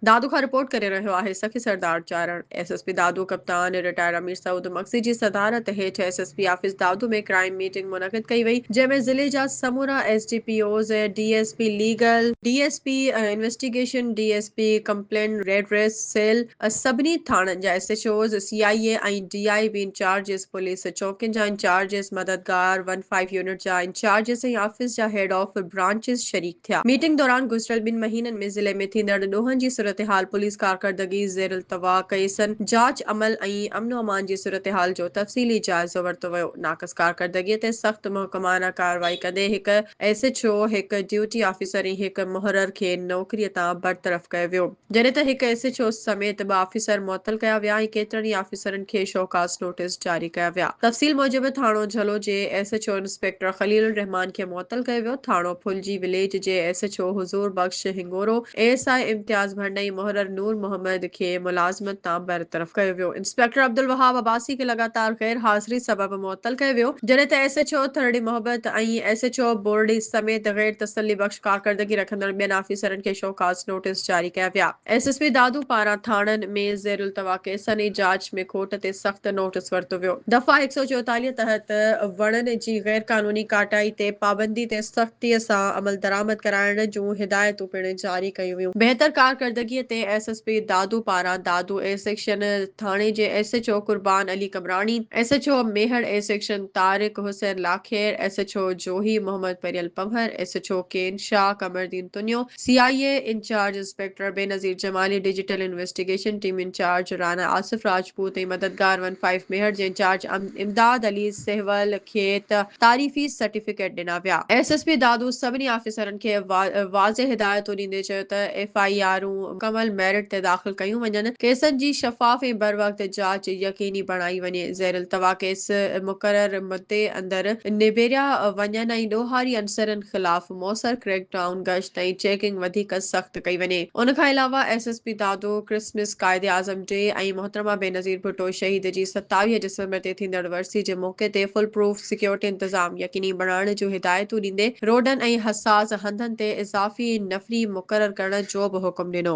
دادو کان رپورٽ ڪري رهيو آهي Sakhi Sardar Charan, S S P Dadu ڪپتان رٽائرڊ امير سعود مگسي جي صدارت هيٺ S S P office Dadu ۾ crime meeting منعقد ڪئي وئي جنهن ۾ ضلعي جا سمورا S D P Os, D S P legal, D S P investigation, D S P complaint redress cell, سڀني ٿاڻن جا S H Os, C I A ۽ D I B incharges, police چوڪين جا انچارجز، مددگار ون فائيو يونٽ جا incharges ۽ office جا head of branches شريڪ. ٿيا. Meeting دوران گذريل ٻن مهينن ۾ ضلعي ۾ ٿيندڙ ڏوهن جي صورتحال، پوليس ڪارڪردگي، زيرالتوا ڪيسن، جاچ عمل ۽ امن و امان جي صورتحال جو تفصيلي جائزو ورتو ويو. ناقص ڪارڪردگي تي سخت محڪمانه ڪارروائي ڪندي هڪ ايس ايڇ او، هڪ ڊيوٽي آفيسر ۽ هڪ محرر کي نوڪري تان برطرف ڪيو ويو. جڏهن ته هڪ ايس ايڇ او سميت ٻه آفيسر معطل ڪيا ويا ۽ ڪيترن ئي آفيسرن کي شوڪاز نوٽيس جاري ڪيا ويا. تفصيل موجب ٿاڻو جھلو جي S H O inspector Khalil الرحمان کي معطل ڪيو ويو، ٿاڻو ڦلجي وليج جي S H O Huzoor Bakhsh Hingoro, A S I Imtiaz Bhand ۽ محرر نور محمد کي ملازمت تان برطرف ڪيو ويو، انسپيڪٽر عبدالوهاب عباسي کي لڳاتار غير حاضري سبب معطل ڪيو ويو، جڏهن ته S H O Tharri Mohabbat ۽ S H O Borri سميت غير تسلي بخش ڪارڪردگي رکندڙ ٻين آفيسرن کي شوڪاز نوٽيس جاري ڪيا ويا. ايس ايس پي دادو پاران ٿاڻن ۾ زيرالتوا ڪيسن ۽ جاچ ۾ کوٽ تي سخت نوٽيس ورتو ويو. دفعا هڪ سؤ چويتاليهه تحت وڻن جي غير قانوني ڪاٽائي تي پابندي تي سختي سان عملدرآمد ڪرائڻ جون هدايتون پڻ جاري ڪيون ويون. بهتر ڪارڪردگي تي ايس ايس پي دادو پاران دادو اي سيڪشن ٿاڻي جي S H O Qurban Ali Qambrani, S H O Mehar, A section Tariq Hussain Lakhair, S H O Johi Muhammad Paryal Panhwar, S H O Kain Shah Qamaruddin Tunio, C I A incharge inspector Benazir Jamali, digital investigation team incharge Rana Asif Rajput ۽ مددگار ون فائيو ميهڙ جي انچارج امداد علي سهول کي تعريفي certificate ڏنا ويا. S S P Dadu سڀني آفيسرن کي واضح هدايتون ڏيندي چيو ته ايف آء آرون مڪمل ميرٽ تي داخل ڪيون وڃن، ڪيسن جي شفاف ۽ بروقت جاچ يقيني بڻائي وڃي، زيرالتوا ڪيس مقرر مدي اندر نبيريا وڃن ۽ ڏوهاري عنصرن خلاف. موثر ڪريڪ ڊائون، گشت ۽ چيڪنگ وڌيڪ سخت ڪئي وڃي. ان کان علاوه S S P Dadu, Christmas, Quaid-e-Azam day ۽ محترمه بينظير ڀٽو شهيد جي ستاويهه ڊسمبر تي ٿيندڙ ورسي جي موقعي تي فل پروف سيڪيورٽي انتظام يقيني بڻائڻ جون هدايتون ڏيندي روڊن ۽ حساس هنڌن تي اضافي نفري مقرر ڪرڻ جو به حڪم ڏنو.